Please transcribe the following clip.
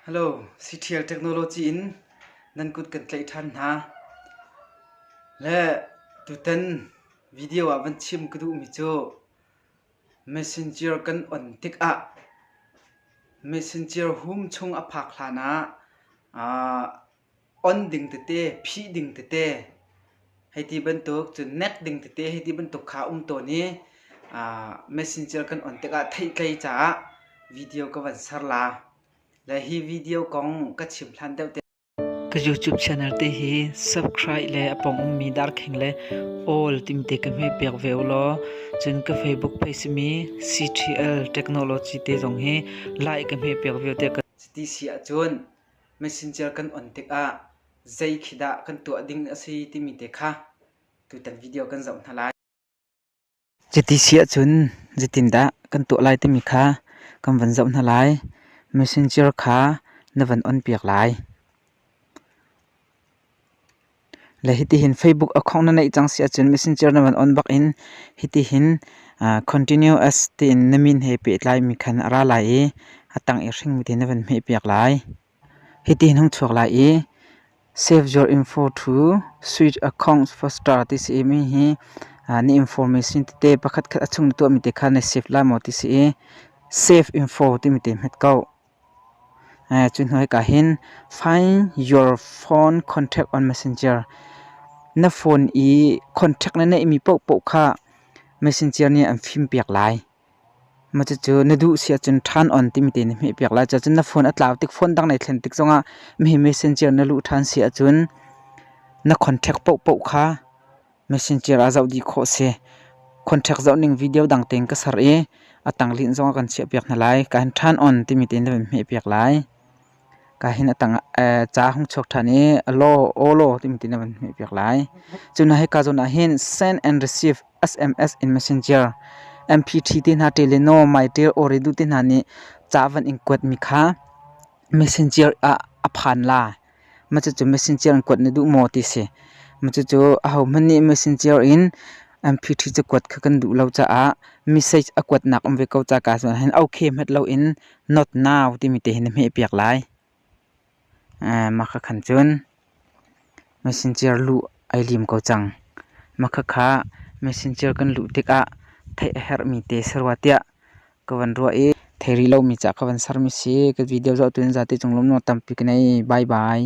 Hello, CTL technology in nan kut kan tlaih ṭhan hna. Le tutan video ah van chim ka duhmi cu messenger kan on tikah messenger hum chung a phak hlan ah ah on ding tete, phih ding tete, hei ti bantuk. Cun nek ding tete hei ti bantuk kha um tawn i messenger kan on tikah theihtlei caah video ka van ser la. Le hi video kong ka chim hlan deuh te. Ka YouTube channel te hi subscribe le apong ummi darkheng le all timte ka hme pek ve ulaw cun ka Facebook page simi CTL Technology te zong hi like ka hme pek ve te ka Cuti si ahcun Mesencer kan on tikah zei khi dah kan tuah ding a si timi te kha tutan video kan zoh hna lai. Cuti si ahcun zeitindah kan tuah lai timi kha kan van zoh hna lai. Messenger kha na van onpiak lai. Le hitihin Facebook account na neih cang si ahcun Messenger na van on bak in hitihin continuous tiin na min he pehtlaimi khan a ra lai i a tang i hringmi te na van hmehpiak lai. Hitihin hung chuak lai i save your info to switch accounts for star ti si i mi hi na information tete pakhatkhat a chung na tuahmi te kha na save lai maw ti si i save info timi te hmet ko. Cuhnuika hin find your phone contact on Messenger. Na phone i contact na neihmi paohpaoh kha Messenger nih an fimpiak lai. Mah cucu na duh si ahcun turn on timi te na hmehpiak lai. Cucun na phone a tlau tik, phone dang na i thlen tik zongah hihi Messenger na luh ṭhan si ahcun na contact paohpaoh kha Messenger ah zoh dih khawh a si. Contract zohning video dang tein ka ser i a tanglinh zong a kan chiahpiak hna lai. Ka hin ṭhan on timi tein na vun hmehpiak lai. Ka hin a tang ca hung chuak ṭhan i alo, olo timi tein na vun hmehpiak lai. Cu hna hi ka zawn ah hin send and receive SMS in Messenger MPT te hna ṭe le No Mytial Oridu te hna nih ca van in kuatmi kha Messenger ah a phan la. Cucu machine ciar an kuat na duh maw ti si. Cucu ahohmanh nih machine ciar in amphiṭhi cakuat kha kan duh lo caah message a kuatnak um ve ko caka si ahhin okay hmat loin not now timi te hi na hmehpiak lai. Mah kha khan cun machine ciar luh ai lim ko cang. Mah khakha machine ciar kan luh tikah theih a herhmi te sarua tiah ka van ruah i thei rih lomi cah ka van sermi si. Ka video zohtu in zate cung lawm nuam tampi ka nei. Bye bye.